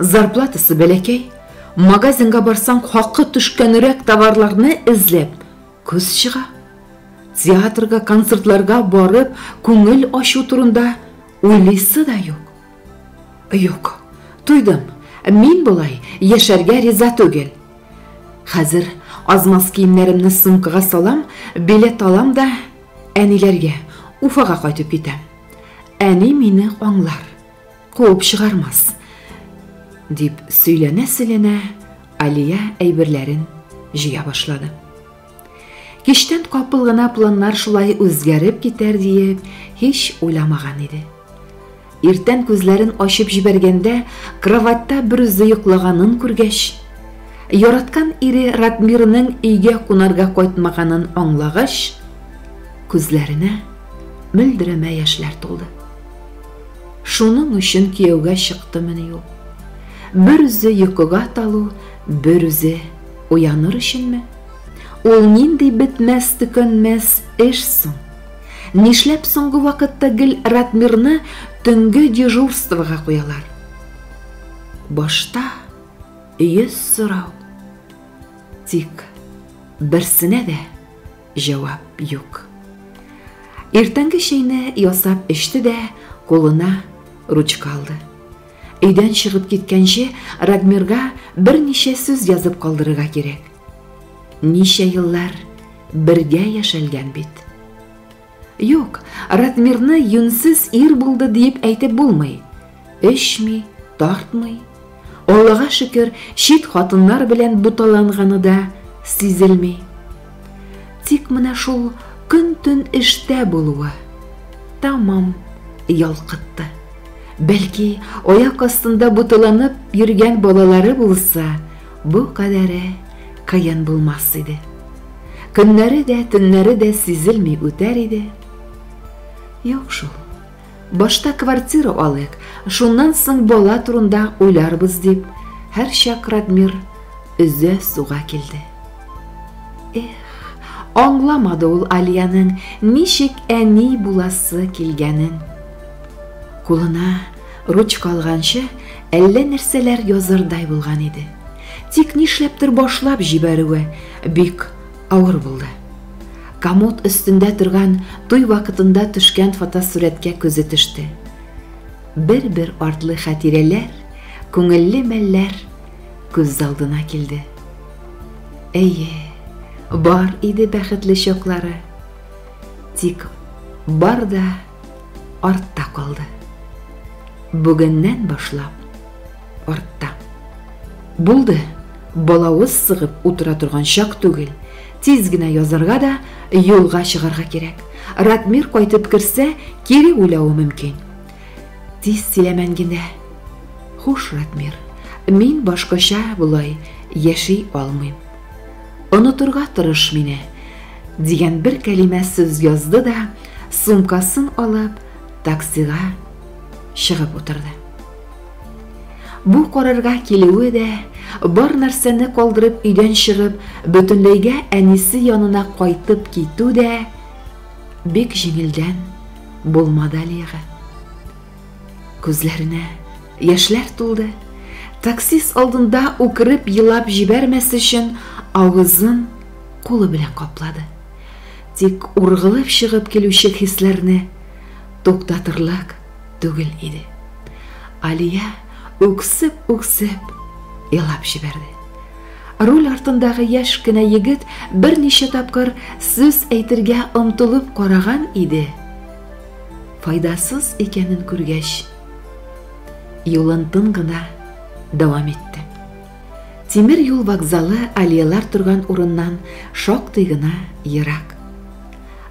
Зарплатасы бәләкәй, магазинга барсаң, хакы төшкәнрәк товарларны эзләп күз чыга. Театрга, концертларга барып, күңел ачу турында уйлыйсы да юк. Юк, туйдым. Мин болай яшәргә риза түгел. Хәзер азмаз киемнәремне сумкага салам, билет алам да әниләргә, Уфага кайтып китәм. Әни мине аңлар. Куып чыгармас, дип сөйләнә-сөйләнә Алия әйберләрен җыя башлады. Киштән капыл гына планнар шулай үзгәреп китәр диеп, һич уйламаган иде. Иртән күзләрен ачып җибәргәндә, кроватьта берүзе йоклаганын күргәч, яраткан ире Радмирның өйгә кунарга кайтмаганын аңлагач, күзләренә мөлдерәмә яшьләр тулды. Шуның өчен кияүгә чыктымыни ул? Берүзе йокыга талу, берүзе уяныр өченме? Ул нинди бетмәс-төкәнмәс эш соң? Нишләп соңгы вакытта гел Ратмирны төнге дежурствога куялар? Башта йөз сорау. Тик берсенә дә җавап юк. Иртәнге чәйне ясап эчте дә, кулына ручка алды. Өйдән чыгып киткәнче Радмирга берничә сүз язып калдырырга кирәк. Ничә еллар бергә яшәлгән бит. Юк, Радмирны юнсез ир булды диеп әйтеп булмый. Эчми, тартмый. Аллага шөкер, чит хатыннар белән буталанганы да сизелми. Тик менә шул көн-төн эштә булуы тамам ялкытты. Бәлки, аяк астында буталанып йөргән балалары булса, бу кадәре кыен булмас иде. Көннәре дә, төннәре дә сизелми үтәр иде. Юк шул. Башта квартира алыйк, шуннан соң бала турында уйларбыз, дип, һәрчак Радмир өзә суга килде. Эх, аңламады ул Алиянең ничек әни буласы килгәнен. Кулына ручка алганчы әллә нәрсәләр язардай булган иде. Тик нишләптер башлап җибәрүе бик Авыр булды. Комод өстендә торган туй вакытында төшкән фотосурәткә күзе төште. Бер-бер артлы хәтирәләр, күңелле мәлләр күз алдына килде. Әйе, бар иде бәхетле чаклары. Тик бар да артта калды. Бүгеннән башлап артта. Булды, балавыз сыгып утыра торган чак түгел. Тиз генә язарга да, юлга чыгарга кирәк. Ратмир кайтып керсә, кире уйлавы мөмкин. Тиз тиләмән генә. Хуш, Ратмир. Мин башкача болай яши алмыйм. Онытырга тырыш мине, дигән бер кәлимә сүз язды да, сумкасын алып, таксига чыгып утырды. Бу карарга килүе дә, бар нәрсәне калдырып өйдән чыгып, бөтенләйгә әнисе янына кайтып китү дә бик җиңелдән булмады Алиягә. Күзләренә яшьләр тулды. Таксист алдында үкереп елап җибәрмәс өчен авызын кулы белән каплады. Тик ургылып чыгып килүче хисләрне туктатырлык түгел иде. Алия үксеп-үксеп елап җибәрде. Руль артындагы яшь кенә егет берничә тапкыр сүз әйтергә омтылып караган иде. Файдасыз икәнен күргәч, юлын тын гына дәвам итте. Тимер юл вокзалы алиялар торган урыннан шактый гына ерак.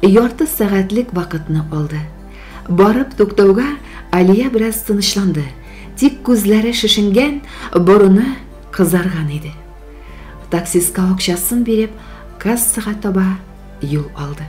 Ярты сәгатьлек вакытны алды. Барып туктауга Алия бераз тынычланды, тик күзләре шешенгән, борыны кызарган иде. Таксистка акчасын биреп, кассага таба юл алды.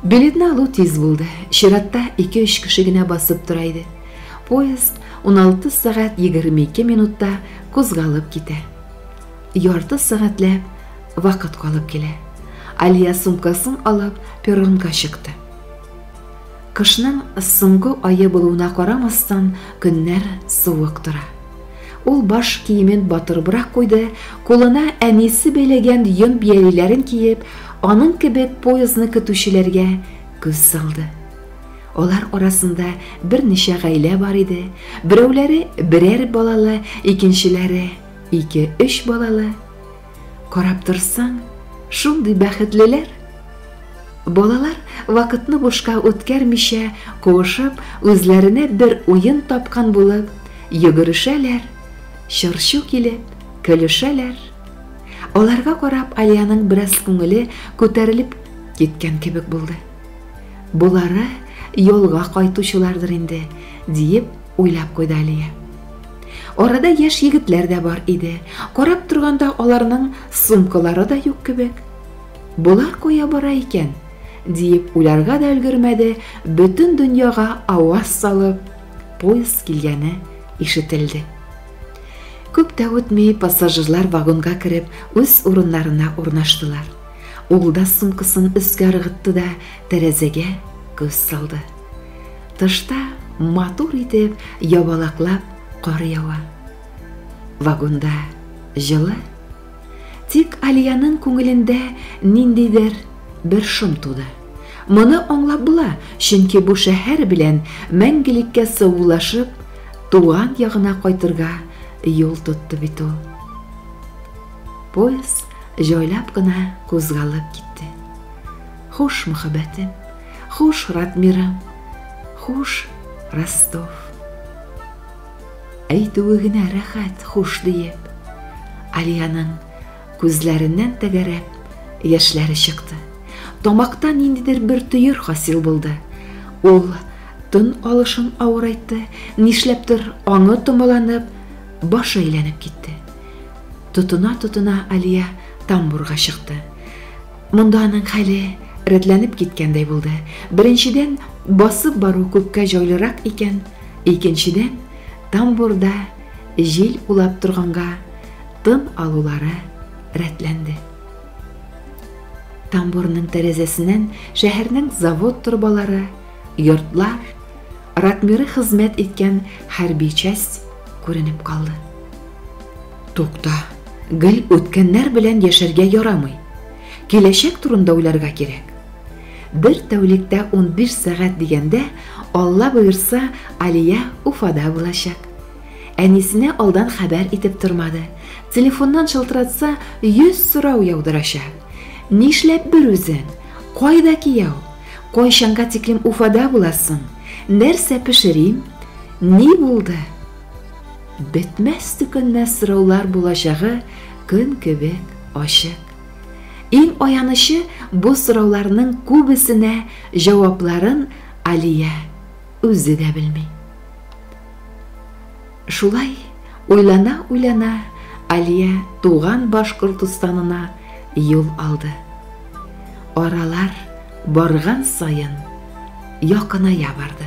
Билетны алу тиз булды. Чиратта 2-3 кеше генә басып тора иде. Поезд 16 сәгать 22 минутта кузгалып китә. Ярты сәгатьләп вакыт калып килә. Алия сумкасын алып перронга чыкты. Кышның соңгы айы булуына карамастан, көннәр суык тора. Ул баш киемен батырыбрак куйды, кулына әнисе бәйләгән йон биялиләрен киеп, аның кебек поездны көтүчеләргә күз салды. Алар арасында берничә гаилә бар иде. Берәүләре берәр балалы, икенчеләре ике-өч балалы. Карап торсаң, шундый бәхетлеләр. Балалар вакытны бушка үткәрмичә, куышып, үзләренә бер уен тапкан булып, йөгерешәләр, чырчу килеп, көлешәләр. Аларга карап Алиянең бераз күңеле күтәрелеп киткән кебек булды. Болары ялга кайтучылардыр инде, диеп уйлап куйды Алия. Арада яшь егетләр дә бар иде. Карап торганда аларның сумкалары да юк кебек. Болар кая бара икән? диеп уйларга да өлгермәде, бөтен дөньяга аваз салып, поезд килгәне ишетелде. Күп тә үтми пассажирлар вагонга кереп, үз урыннарына урнаштылар. Ул да сумкасын өскә ыргытты да тәрәзәгә күз салды. Тышта матур итеп ябалаклап кар ява. Вагонда җылы. Тик Алиянең күңелендә ниндидер бер шом туды. Моны аңлап була, чөнки бу шәһәр белән мәңгелеккә саулашып, туган ягына кайтырга юл тотты бит ул. Поезд җайлап кына кузгалып китте. Хуш, мөхәббәтем, Хуш, Радмира. Хуш, Ростов. Әйтүе генә рәхәт, хуш диеп. Алиянын күзләреннән тәгәрәп яшьләре чыкты. Тамакта ниндидер бер төер хасил булды. Ул тын алышын авырайтты, нишләптер аңы томаланып, башы әйләнеп китте. Тотына-тотына Алия тамбурга чыкты. Монда аның хәле рәтләнеп киткәндәй булды. Беренчедән, басып бару күпкә җайлырак икән, икенчедән, тамбурда җил улап торганга тын алулары рәтләнде. Тамбурның тәрәзәсеннән шәһәрнең завод торбалары, йортлар, ратмиры хезмәт иткән хәрби часть күренеп калды. Тукта, гел үткәннәр белән яшәргә ярамый. Киләчәк турында уйларга кирәк. Бер тәүлектә 15 сәгать дигәндә, Алла боерса, Алия Уфада булачак. Әнисенә алдан хәбәр итеп тормады. Телефоннан шылтыратса, 100 сорау яудырачак. Нишләп бер үзең? Кайда кияү? Кайчанга тиклем Уфада буласың? Нәрсә пешерим? Ни булды? Бетмәс-төкәнмәс сораулар булачагы көн кебек ачык. Иң аянычы, бу сорауларның күбесенә җавапларын Алия үзе дә белми. Шулай уйлана-уйлана Алия туган Башкортостанына юл алды. Аралар барган саен якыная барды.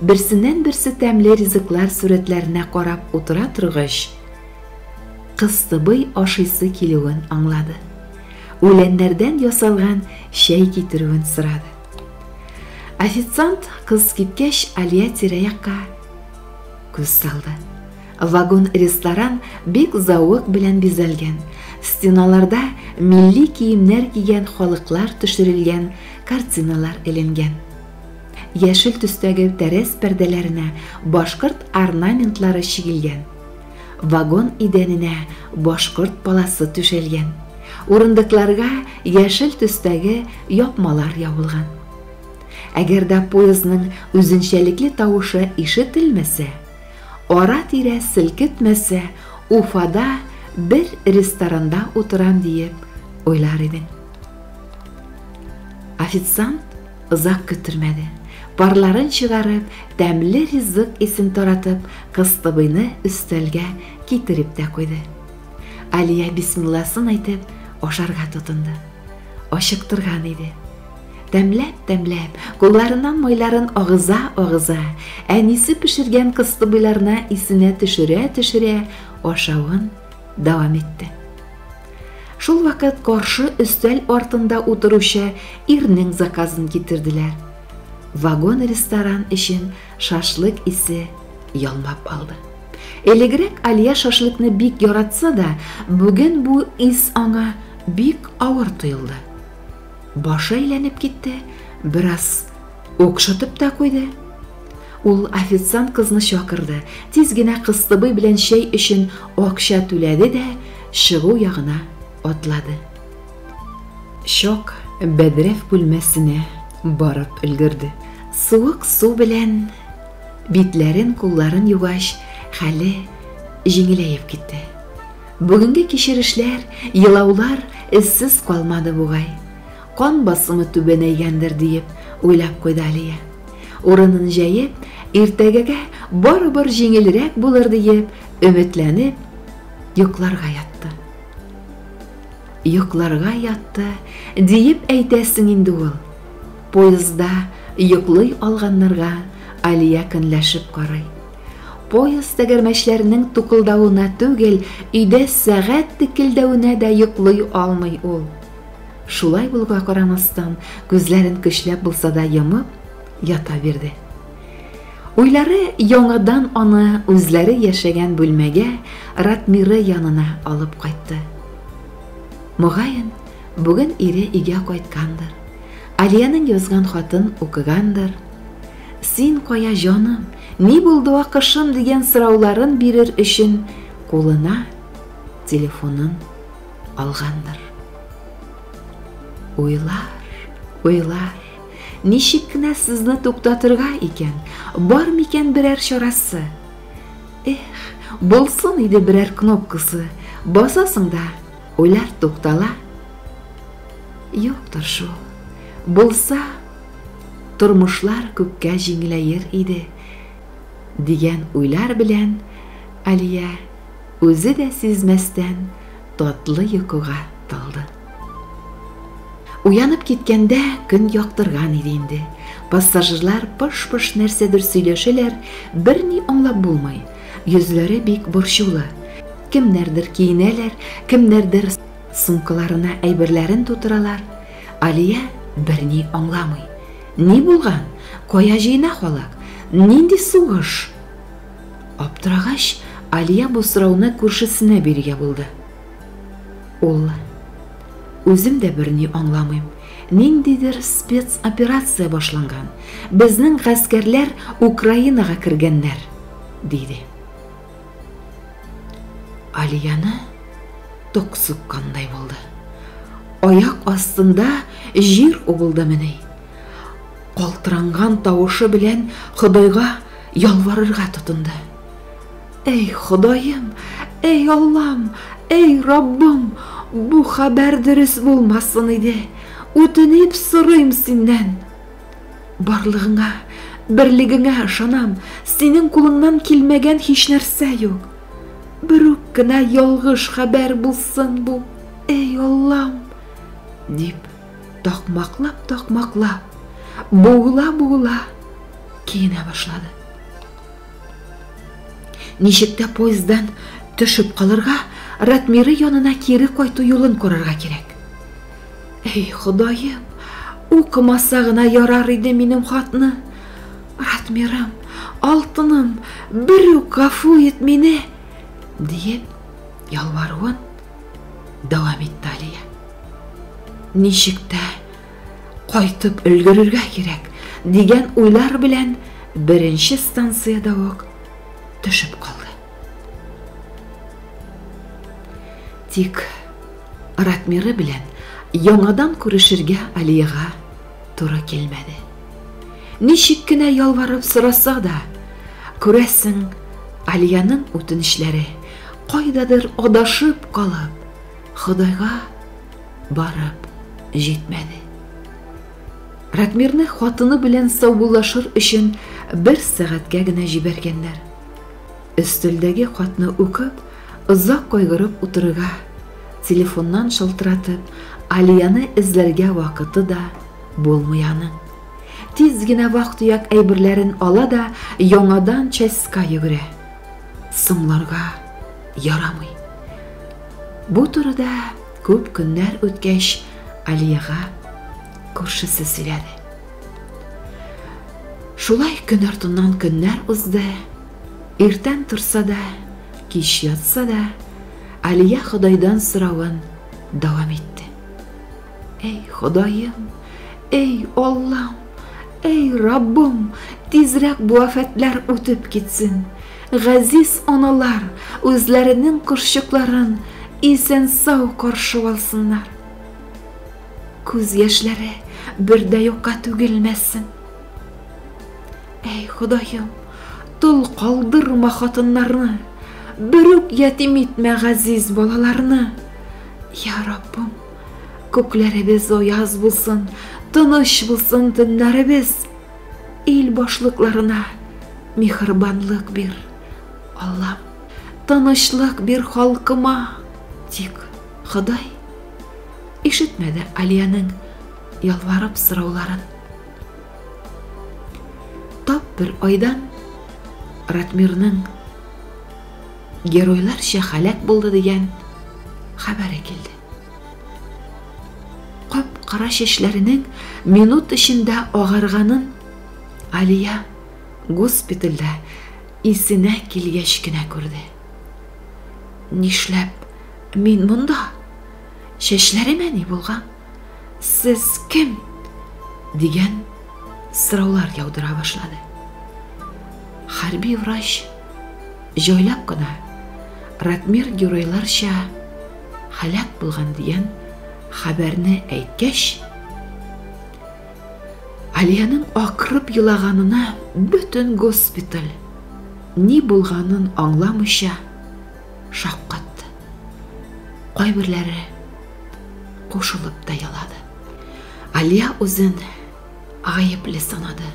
Берсеннән-берсе тәмле ризыклар сурәтләренә карап утыра торгач, Кыстыбый ашыйсы килүен аңлады. Үләннәрдән ясалган чәй китерүен сорады. Официант кыз киткәч, Алия тирә-якка күз салды. Вагон-ресторан бик зауык белән бизәлгән. Стеналарда милли киемнәр кигән халыклар төшерелгән картиналар эленгән. Яшел төстәге тәрәз пәрдәләренә башкорт орнаментлары чигелгән. Вагон идәненә башкорт паласы түшәлгән. Урындыкларга яшел төстәге япмалар ябылган. Әгәр дә поездның үзенчәлекле тавышы ишетелмәсә, ара-тирә селкетмәсә, Уфада бер ресторанда утырам диеп уйлар идең. Официант Озак көттермәде, парларын чыгарып, тәмле ризык исен таратып, Кыстыбыйны өстәлгә китереп тә куйды. Алия бисмилласын әйтеп, ашарга тотынды. Ачыктырган иде. Тәмләп-тәмләп, кулларыннан майларын агыза-агыза, әнисе пешергән кыстыбыйларны исенә төшерә-төшерә ашавын дәвам итте. Шул вакыт каршы өстәл артында утыручы ирнең заказын китерделәр. Вагон ресторан өчен шашлык исе ялмап алды. Элегрәк Алия шашлыкны бик яратса да, бүген бу ис аңа бик авыр тоелды. Башы әйләнеп китте, бераз укшытып та куйды. Ул официант кызны чакырды, тиз генә кыстыбый белән чәй өчен акча түләде дә чыгу ягына атлады. Чак бәдрәф бүлмәсенә барып өлгерде. Суык су белән битләрен, кулларын югач, хәле җиңеләеп китте. Бүгенге кичерешләр, елаулар эзсез калмады бугай. Кан басымы түбәнәйгәндер, диеп уйлап куйды Алия. Урынын җәеп, иртәгәгә барыбер җиңелрәк булыр диеп, өметләнеп, йокларга ятты. Йокларга ятты, диеп әйтәсең инде ул. Поездда йоклый алганнарга Алия көнләшеп карый. Поезд тәгәрмәчләренең тукылдавына түгел, өйдә сәгать текелдәвенә дә йоклый алмый ул. Шулай булуга карамастан, күзләрен көчләп булса да йомып, ята бирде. Уйлары яңадан аны үзләре яшәгән бүлмәгә Ратмиры янына алып кайтты. Мөгаен, бүген ире өйгә кайткандыр. Алиянең язган хатын укыгандыр. Син кая җаным, ни булды акышым дигән сорауларын бирер өчен кулына телефонын Алгандыр. Уйлар, уйлар. Ничек кенә сезне туктатырга икән? Бар микән берәр чарасы? Эх, булсын иде берәр кнопкасы. Басасың да, уйлар туктала. Юктыр шул. Булса, тормышлар күпкә җиңеләер иде, дигән уйлар белән Алия Үзе дә сизмәстән татлы йокыга талды. Уянып киткәндә көн яктырган иде инде. Пассажирлар пыш-пыш нәрсәдер сөйләшәләр, берни аңлап булмый. Йөзләре бик борчулы. Кемнәрдер киенәләр, кемнәрдер сумкаларына әйберләрен тутыралар. Алия берни аңламый. Ни булган? Кая җыена халык? Нинди сугыш? Аптырагач, Алия бу сорауны күршесенә бирергә булды. Ул, Үзем дә берни аңламыйм. Ниндидер спецоперация башланган. Безнең гаскәрләр Украинага кергәннәр, диде. Алияны ток суккандай булды. Аяк астында җир убылдымыни? Калтыранган тавышы белән Ходайга Ялварырга тотынды. Әй, Ходаем, әй, Аллам, әй, Раббым, бу хәбәр дөрес булмасын иде. Үтенеп сорыйм синнән. Барлыгыңа, берлегеңә ышанам, синең кулыңнан килмәгән һич нәрсә юк. Бер үк кенә ялгыш хәбәр булсын бу, әй, Аллам, дип такмаклап-такмаклап, буыла-буыла киенә башлады. Ничек тә поезддан төшеп калырга, Ратмиры янына кире кайту юлын карарга кирәк. Эй, Ходаем, укымаса гына ярар иде минем хатны. Ратмирым, алтыным, бер үк гафу ит мине, диеп ялваруын Дәвам итте Алия. Ничек тә кайтып өлгерергә кирәк дигән уйлар белән беренче станциядә үк төшеп калды. Тик Ратмиры белән яңадан күрешергә Алиега туры килмәде. Ничек кенә ялварып сораса да, күрәсең, Алиянең үтенечләре Кайдадыр адашып калып, Ходайга барып җитмәде. Радмирны хатыны белән саубуллашыр өчен бер сәгатькә генә җибәргәннәр. Өстәлдәге хатны укып, озак кайгырып утырырга, телефоннан шалтыратып, Алияны эзләргә вакыты да булмый аның. Тиз генә вак-төяк әйберләрен ала да яңадан частька йөгерә. Сумларга ярамый. Бу турыда күп көннәр үткәч Алиягә күршесе сөйләде. Шулай көн артыннан көннәр узды. Иртән торса да, кич ятса да, Алия Ходайдан соравын дәвам итте. Әй, Ходаем, әй, Аллам, әй, Раббым, тизрәк бу афәтләр үтеп китсен. Газиз аналар үзләренең кошчыкларын исән-сау каршы алсыннар. Күз яшьләре бер дә юкка түгелмәсен. Әй, Ходаем, тол калдырма хатыннарны, бер үк ятим итмә газиз балаларны. Я Раббым, Күкләребез аяз булсын, тыныч булсын төннәребез. Ил башлыкларына михырбанлык бир, Аллам, тынычлык бир халкыма. Тик Ходай ишетмәде Алиянең ялварып сорауларын. Тап бер айдан Ратмирның геройларча халәк булды дигән хәбәре килде. Кап-кара чәчләренең минут эчендә агарганын Алия госпитальдә исенә килгәч кенә күрде. Нишләп мин монда? Чәчләремә ни булган? Сез кем? дигән сораулар яудыра башлады. Хәрби врач җайлап кына Ратмир геройларча һәлак булган дигән хәбәрне әйткәч, Алиянең акырып елаганына бөтен госпиталь ни булганын аңламыйча шаккатты. Кайберләре кушылып та елады. Алия үзен гаепле санады.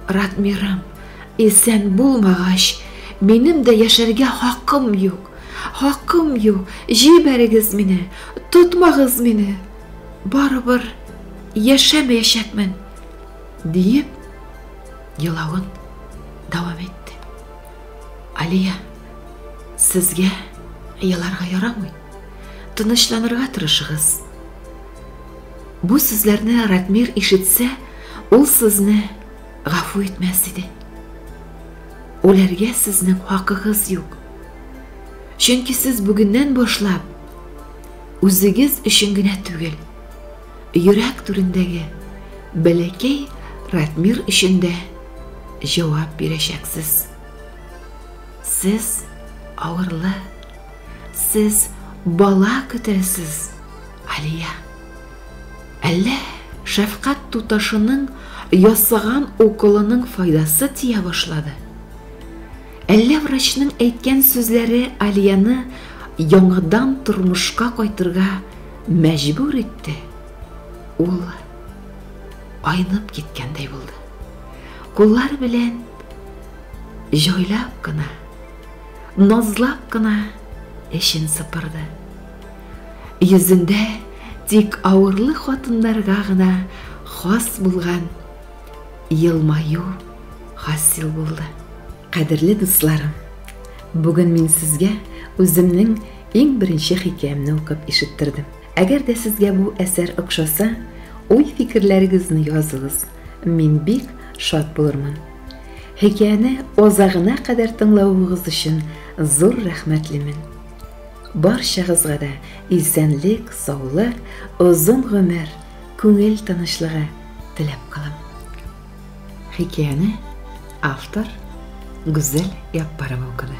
Радмирым, исән булмагач, минем дә яшәргә хакым юк. Хакым юк. Җибәрегез мине, тотмагыз мине. Барыбер яшәмәячәкмен, диеп, елавын дәвам итте. Алия, сезгә еларга ярамый. Тынычланырга тырышыгыз. Бу сүзләрне Ратмир ишетсә, ул сезне гафу итмәс иде. Үләргә сезнең хакыгыз юк. Чөнки сез бүгеннән башлап үзегез өчен генә түгел, йөрәк түрендәге бәләкәй Ратмир өчен дә җавап бирәчәксез. Сез авырлы, сез бала көтәсез. Алия. Әллә шәфкать туташының ясаган уколының файдасы тия башлады? Әллә врачның әйткән сүзләре Алияны яңадан тормышка кайтырга мәҗбүр итте? Ул айнып киткәндәй булды. Куллар белән җайлап кына, назлап кына эшен сыпырды. Йөзендә тик авырлы хатыннарга гына хас булган елмаю хасил булды. Кадерле дусларым, бүген мин сезгә үземнең иң беренче хикәямне укып ишеттердем. Әгәр дә сезгә бу әсәр охшаса, уй-фикерләрегезне языгыз. Мин бик шат булырмын. Хикәяне озагына кадәр тыңлавыгыз өчен зур рәхмәтлемен. Барчагызга да исәнлек, саулык, озын гомер, күңел тынычлыгы теләп калам. Хикәяне автор Гүзәл Яппарова укыды.